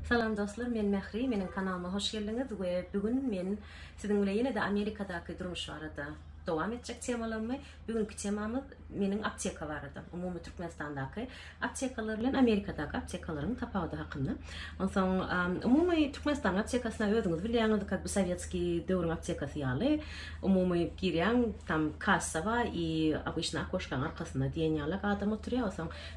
Salam dostlar men Mähri meniň kanalyma hoş geldiňiz we bu gün men siziň bile ýene-de Amerikadaky durmuş barada dowam etjek temalarymy bugünki temamyz meniň apteka barada umumy Türkmenistandaky aptekalar bilen Amerikadaky aptekalaryň tapawudy hakynda onsoň umumy Türkmenistanyň aptekasyna özüňiz bilýäňiz kak bu sowetski döwrüň aptekasy ýaly umumy girýäň tam kassa bar i obyçny okoşkaň arkasynda diýen ýalak adam oturýa onsoň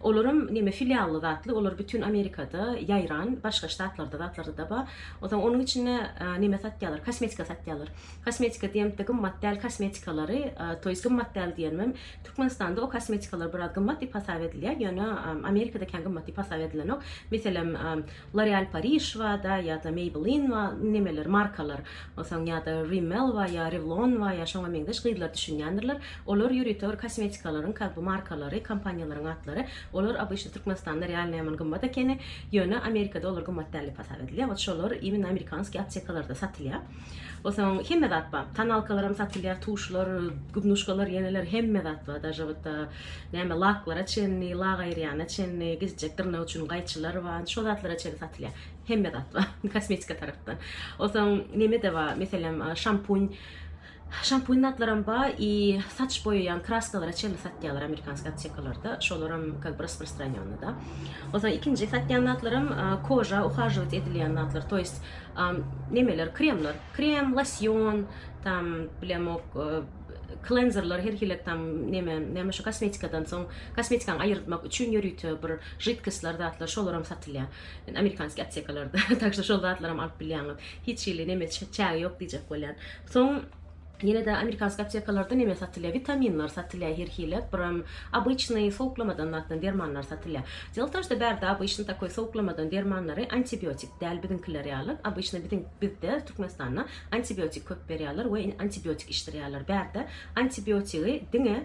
Olaram neme filially zatly olar bütün amerikada ýaýran başga ştatlarda zatlardada bar ozaň onuň içinde neme satýalar kosmetika satýalar kosmetika diýemde gymmat däl kosmetikalary to ýest gymmat däl diýenmem türkmenistanda o kosmetikalar biraz gymmat diýip hasap edilýä ýöne amerikada kän gymmat diýip hasap edilenok meselem L'oreal Paris bada ýa-da Maybelline ba nemeler markalar bolsaň ýa-da Rimmel ba ýa Revlon ba ýa şoňa meňzeş gyzlar düşünýändirler olar ýörite kosmetikalaryň ka bu markalary kompaniýalaryň atlary olar obyçny Türkmenistanda realno ýaman gymmat ekeni ýöne Amerikada olar gymmat däl dep hasap edilýär ot şolar immina amerikanskiý aptekalarda satylýar bolsaň hemme zat ba tonalkalaram satylýar tuşlar gubnuşkalar ýeneler hemme zat ba daže ot. Näme laklara çenli, lak aýyrýana çenli, gezjek dyrnak üçin gaýçylar bar, şo zatlara çenli satylýar. Hemme zat bar, kosmetika tarapdan. Onsoň neme-de bar, meselem, şampuň, şampuň zatlaram bar i saç boýaýan kraskalara çenli satýarlar amerikanskiý aptekalarda, şolaram kak bi raspirstranýonny-da. Onsoň ikinji satýan zatlaram koža uhajowat edilýän zatlar, to ýest, nemeler, kremler, krem, losýon, tam, bilemok, Klenzerler her hili tam neme neme şu kosmetikadan soň kosmetikaňy aýyrtmak üçin ýörite bir židkostlar zatlar şolaram satylýar. Amerikanskiý aptekalarda tak şu şol zatlaram alyp bilýäňiz. Hiç hili neme çägi ýok diýjek bolýan. Soň ýenede amerikanskiý aptekalarda neme satylýar witaminler satylýar her hili biram obyçnyý sowuklamadan zatdan dermanlar satylýar. Delo w tom şda bärde obyçnyý takoý sowuklamadan dermanlary antibiotik däl biziňkiler ýaly obyçnyý biziň bizde Türkmenistanda Antibiotik köp berýärler we antibiotik içdirýärler. Bärde antibiotigi diňe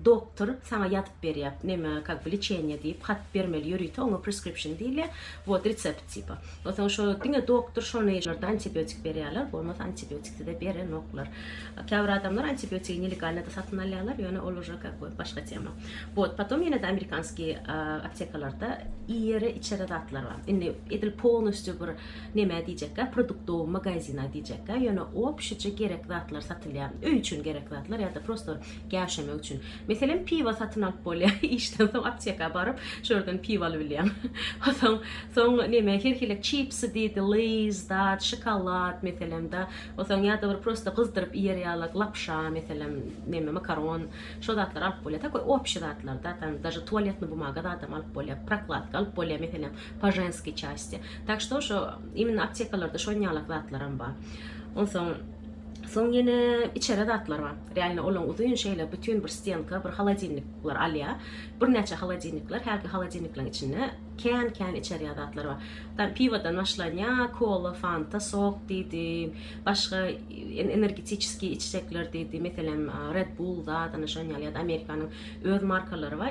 doktor saňa ýazyp berýär. Neme, kak bi lečeniýe diýip hat bermeli ýörite oňa preskripşin diýilýär. Wot resept tipa. Onsoň şo diňe doktor şony ýerde antibiotik berýärler, bolmasa antibiotik size berenoklar. Käbir adamlar antibiotigi nelegalnyda satyn alýarlar, ýöne ol uje kak bi başga tema. Wot, potom ýene-de amerikanskiý aptekalarda iýere-içere zatlar bar. Indi edil polnostýu bir Nämä diýjekkä, produktowy magazina diýjekkä, ýöne obşije gerek zatlar satylýar. Öý üçin gerek zatlar ýa-da prosto gäwşemek üçin. Meselem, piwo satyn alyp bolýar, işden soň apteka baryp, şu ýerden piwo alybilýäň. Soň, soň näme, her hili çipsi diýdi, leýz, dat, şokolad, meselem-de, soň ýa-da bir prosto gyzdyryp iýer ýaly lapşa, meselem, näme, makaron, şo zatlar alyp bolýar. Takoý obşi zatlar-da, tam daže tualetni bumaga zadam alyp bolýar, prokladka alyp bolýar, meselem, po ženskiý çastiýa tak şto şo imенно aptekalarda şonýalak zatlaram bar onsoň soň ýene içere zatlar bar realno olaň uzyn şeýle bütin bir stenka bir holodilnikler alýa birnäçe holodilnikler hälki holodilnikleriň içinde kän kän içerýä zatlar bar tam piwodan başlanýa kola fanta sok diýdi başga energetiçeskiý içjekler diýdi meselem red bul zat ana şonýaly ýa-da amerikanyň öz markalary bar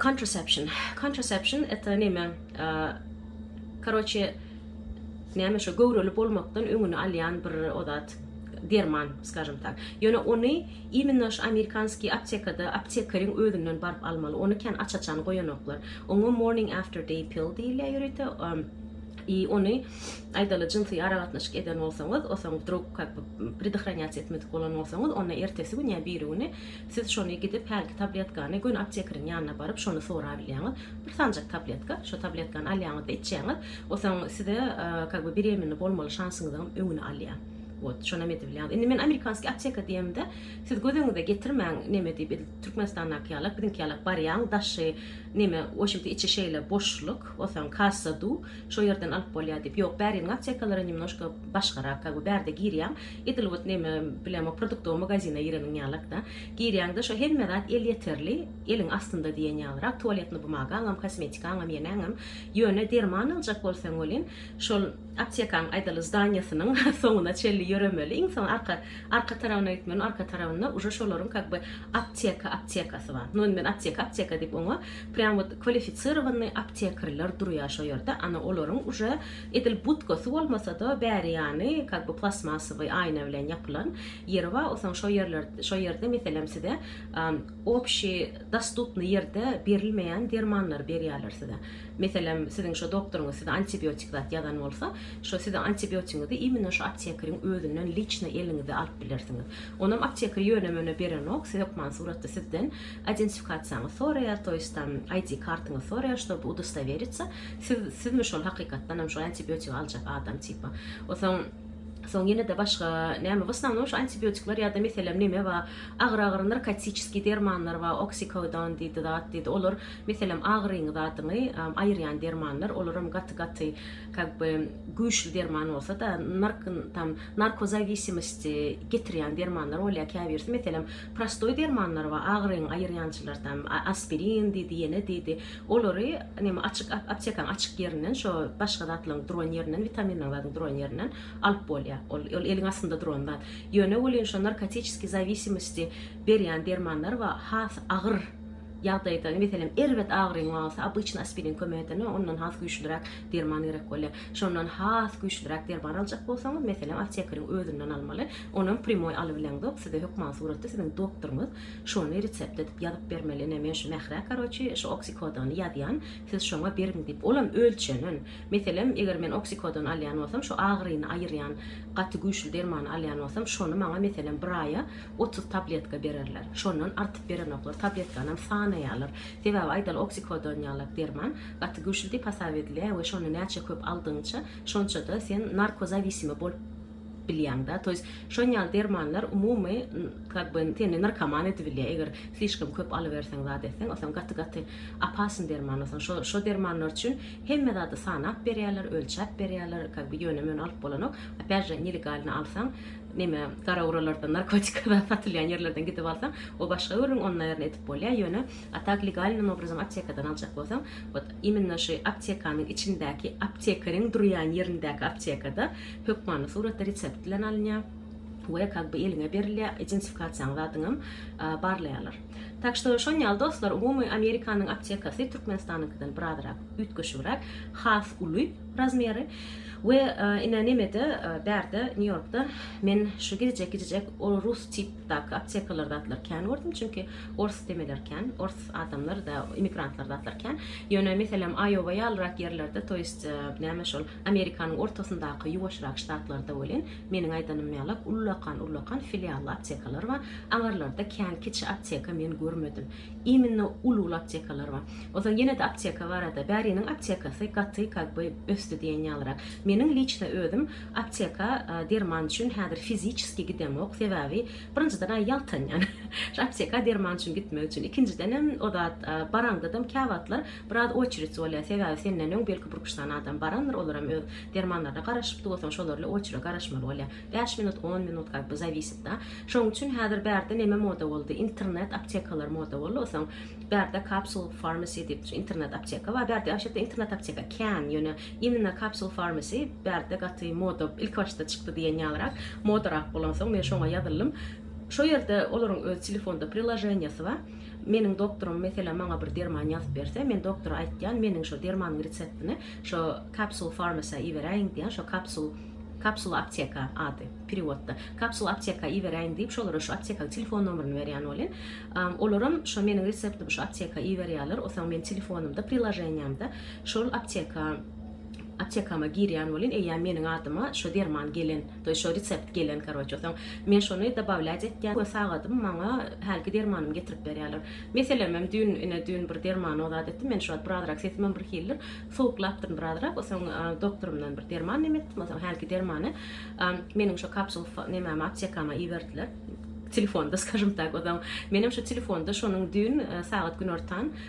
Contraception. Contraception eta neme? Karoçe näme şu göwreli bolmakdan öňüni alýan bir odat derman, skažem tak. Ýöne ony imenna şu amerikanskiý aptekada aptekeriň özünden baryp almaly. Ony kän aç-açan goýanoklar. Oňa morning after day pill diýilýär ýörite. I ony aýdaly jynsy aragatnaşyk eden bolsaňyz, osaň drug kak predahranýatsiýa etmedik bolan bolsaňyz, onda ertesi gün ýa biri güni Siz şony gidip hälki tabletkany göni aptekeriň ýanyna baryp şony sorabilýäňiz. Bir sanjak tabletka, şo tabletkany alýaňyzda içýäňiz. Osaň size kak be beremenli bolmaly şansyňyzyň öňüni alýar. Wot, şonam edibilýäňiz. Indi men amerikanski apteka diýemde, siz göz öňüňize getirmäň neme diýip edil Türkmenistandaky ýalak, biziňki ýalak barýaň daşy neme washimti içi şeýle boşluk, osaň kassa du, şo ýerden alyp bolýar diýip. Ýok, bäriniň aptekalara nemnoşka başgarak, kak be bärde girýäň, Edil wot neme bilemo produktowy magazine gireniň ýalakda. Girýäňde şo hemme zat elýeterli, eliň astynda diýen ýalyrak, tualetny bumagaňam, kosmetikaňam, ýeneňem. Ýöne derman aljak bolsaň welin, şol aptekaň aýdaly zdaniýasynyň soňuna çenli ýöremeli, iň soň arka arka tarabyna gitmeli, arka tarabynda uje şolaryň kak by apteka aptekasy bar. Nu men apteka apteka diýip oňa prýam wot kwalifisirowanyý aptekrler durýar şo ýerde, ana olaryň uje Edil budkasy bolmasa-da, bäri ýany kak bu plastmassowy aýna bilen ýapylan ýeri bar, osaň şo ýerler şo ýerde meselem size obşi dostupny ýerde berilmeýän dermanlary berýärler size. Meselem, siziň şo doktoryňyz size antibiotik zat ýazan bolsa, şo siziň antibiotigiňizi imенно şo aptekeriň özünden liçno eliňize alyp bilersiňiz. Onam apteker ýöne-möne berenok, siz hökman suratda sizden identifikasiýaňyz soraýar, toýst tam ID kartyňyz soraýar, ştoby udostoweritsä. Siz sizmi şol hakykatdanam şu antibiotik aljak adam tipa. Osoň Soň ýene de başga näme bu sanaw şu antibiotikler ýa-da meselem näme bar? Agyr agyr narkotiçiski dermanlar bar, oksikodon diýdi zat diýdi. Olar meselem agyryň zadyny aýyrýan dermanlar, olar hem gaty gaty как бы güýçli derman bolsa da nark tam narkozawisimisdi getirýän dermanlar bolýar käbirisi meselem Prostoý dermanlar bar, agyryňy aýyrýançylar tam, aspirin diýdi, ýene diýdi. Olary neme açyk aptekaň açyk ýerinden, şo başga zatlaryň duran ýerinden, witaminleriň zadyň duran ýerinden alyp bolýar. Ol ol eliň astynda duran zat. Ýöne welin şo narkotiçeskiý zawisimosty berýän dermanlar bar, has agyr ýagdaýda, meselem, erbet agyryň bolsa, obýçny aspirin kömek eder, ondan has güýçliräk Derman gerek bolýar. Şondan has güýçliräk derman aljak bolsaňyz, meselem, aptekeriň özünden almaly. Onam primoý alybileňzok, size hökman suratda siziň doktoryňyz şony resept edip ýazyp bermeli. Ine, men şu Mährä, karoçi, şu oksikodony ýazýan, siz şoňa beriň diýip, olam ölçenen. Meselem, eger men oksikodon alýan bolsam, şu agyryny aýyrýan gaty güýçli dermany alýan bolsam, şony maňa, meselem, bir aýa otuz tabletka bererler. Şondan artyp berenoklar, tabletkanam sanaýarlar. Sebäbi, aýdaly, oksikodon ýalak derman, Gaty güýçli diýip hasap edilýär we şony näçe köp aldygyňça, şonça-da sen narkozawisimi bolup bilýäň-dä. Toýs şon ýaly dermanlar umumy kak by seni narkoman edibilýär. Eger slişkom köp alyberseň zat etseň, o soň gaty gaty opasny derman. O soň şo şo dermanlar üçin hemme zady sanap berýärler, ölçäp berýärler, kak by ýöne möne alyp bolanok. Opýat je nelegalny alsaň, neme gara uralardan narkotika zat satylýan ýerlerden gidip alsaň, o başga gürrüň, ony naýerna edip bolýar, ýöne A tak legalnym obrazam aptekadan aljak bolsaň, wot imenno şu aptekanyň içindäki aptekeriň durýan ýerindäki aptekada hökmany suratda resept bilen alynýar we kak by eliňe berilýär, identifikasiýaň zadyňam barlaýarlar. Tak şto şon ýaly dostlar umumy Amerikanyň aptekasy Türkmenistanyňkydan birazrak üýtgeşigräk, has uly razmeri we ine nemede bärde Nýu Ýorkda men şu gidijek gidijek ol rus tipdaky aptekalar zatlar kän gördüm çünki Ors demeler kän, ors adamlar da emigrantlar zatlar kän. Ýöne meselem Aýowa ýalyrak ýerlerde to ýest näme şol Amerikanyň ortasyndaky ýuwaşrak ştatlarda welin meniň aýdanym ýalak ullakan ullakan filially aptekalar bar. Aňarlarda kän kiçi apteka men görmedim. Iminno uly uly aptekalar bar. Onsoň ýene-de apteka barada bäriniň aptekasy gaty kak by ösdi diýen ýalyrak. Meniň liçno özüm apteka derman üçin häzir fiziçeski gidemok sebäbi Birinjiden aý ýaltanýan. Şu apteka derman üçin gitmek üçin. Ikinjidenem o zat baraňdadam käwagtlar biraz oçerit bolýar. Sebäbi senden öň belki bir üç sany adam barandyr, olar hem öz dermanlaryna garaşypdy bolsaň, şolar ile oçere garaşmaly bolýar. Bäş minut, on minut как бы zawisit da. Şonuň üçin häzir bärde neme moda boldy? Internet aptekalar moda boldy. Osaň bärde kapsul farmasi diýip internet apteka bar. Bärde waşata internet apteka kän, ýöne Imенно Capsule Pharmacy bärde gaty moda ilki başda çykdy diýen ýalyrak, modarak bolansoň men şoňa ýazyldym. Şo ýerde olaryň öz telefonda priloženiýasy bar. Meniň doktorym meselem maňa bir derman ýazyp berse, men doktora aýtýan, meniň şo dermanyň reseptini şo Capsule Pharmacy-a iberäýiň diýýän, şo Capsule, Kapsula apteka ady perewodda. Kapsula apteka iberäýiň diýip, şolara şu aptekaň telefon nomerini berýän welin, olaram şo meniň reseptimi şo apteka iberýärler, osaň men telefonymda priloženiýamda Şol apteka aptekama girýän bolyn eýýäm meniň adyma şo derman gelen toýy şo resept gelen karoçe soň men şony dabawlýac etýän we sagadym maňa hälki dermanym getirip berýäler meselemem düýn ine düýn bir derman ozat etdim men şuwagt birazrak sesimem bir hildir sowuklapdyryn birazrak soň doktorymdan bir derman neme etdim soň hälki dermany meniň şo kapsul nemäme aptekama iberdiler telefonda skažem tak soň menem şo telefonda şonuň düýn sagat günortan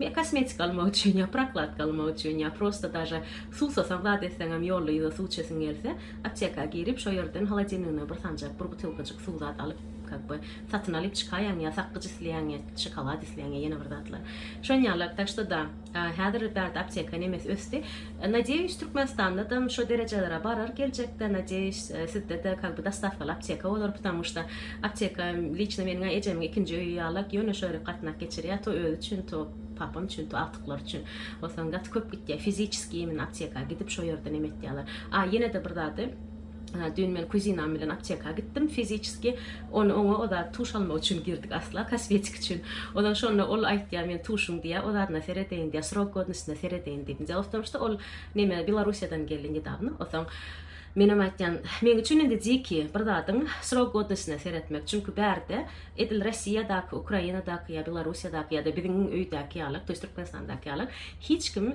Ýa kosmetika almak üçin, ýa prokladka almak üçin, ýa prosta daže suwsasaň zat etseňem ýolda ýuza suw içesiň gelse, apteka girip şo ýerden holodilnigiňe bir sanjak, bir butylkajyk suw zat alyp, kak be, satyn alyp çykaýaň, ýa sakgyç isleýäň, ýa şokolad isleýäň, ýa ýene bir zatlar. Şonýaly, tak ştoda, häzir bärde apteka nemes ösdi. Nadeýiş Türkmenistandadan şo derejelere barar geljekde nadeýiş sizdede kak by dostawkaly apteka bolar ptamuşta apteka liçno meniňä ejemiň ikinji öýi ýalak ýone şo ýere gatnak geçirýä to özi üçin to papam üçin to agtyklary üçin bolsaň gaty köp gitýä fiziçeskiý imin apteka gidip şo ýerde nem etýäler a ýenede bir zady Düýn men kuzinam bilen apteka gitdim fiziçeski. Ony oňa o zat tuş almak üçin girdik asla kosmetik üçin. Ondan şonda ol aýtýar men tuşuň diýä o zadyna seredeýin diýä srok godnostyna seredeýin diýip. Дело в том что ol neme Belorussiýadan geldi nedawno. Osaň menem aýtýan meň üçin indi diki bir zadyň srok godnostyna seretmek. Çünki bärde edil Rossiýadaky, Ukrainadaky ýa Belorussiýadaky ýa-da biziň öýdäki ýalak, to ýest Türkmenistandaky ýalak hiç kim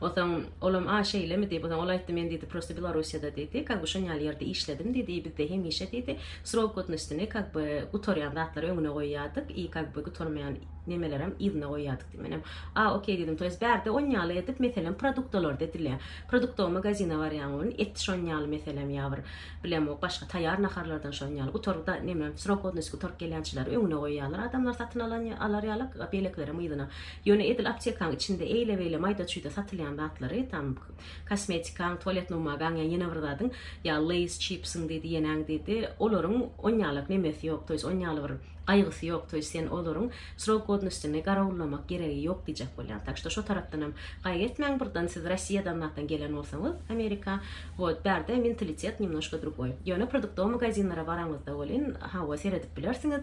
Onsoň olam A şeýlemi diýip, onsoň ol aýtdy, men diýdi, prosto Belorussiýada diýdi, ka bu şon ýaly ýerde işledim diýdi, i bizde hemişe diýdi, srok godnostyny ka bi gutarýan zatlary öňüne goýýardyk i ka bi gutarmaýan nemelerem yzyna goýýardyk diýdi. Menem A okey diýdim, to ýest bärde on ýaly edip, meselem, produktolarda edilýär. Produktowy magazine barýaň welin et şon ýaly meselem ýa bir bilemok başga taýýar naharlardan şon ýaly gutar da neme srok godnosty gutaryp gelýänçileri öňüne goýýarlar adamlar satyn alan alar ýaly, beýlekilerem yzyna. Ýöne edil aptekaň içinde eýle-beýle maýda-çüýde satylýan zatlary, tam, kosmetikaň, tualet numagaň ýa ýene bir zadyň, ýa Lays çipsiň diýdi, ýenäň diýdi, olaryň on ýalak nemesi ýok, to ýest on ýaly bir gaýgysy ýok, to ýest sen olaryň srok godnostyny garawullamak geregi ýok diýjek bolýan. Tak şto şo tarapdan hem gaýgy etmäň, birden siz Rossiýadan zatdan gelen bolsaňyz Amerika, wot, bärde mentalitet nemnoşko drugoý. Ýöne produktowy magazinlere baraňyzda welin, hawa, seredip bilersiňiz,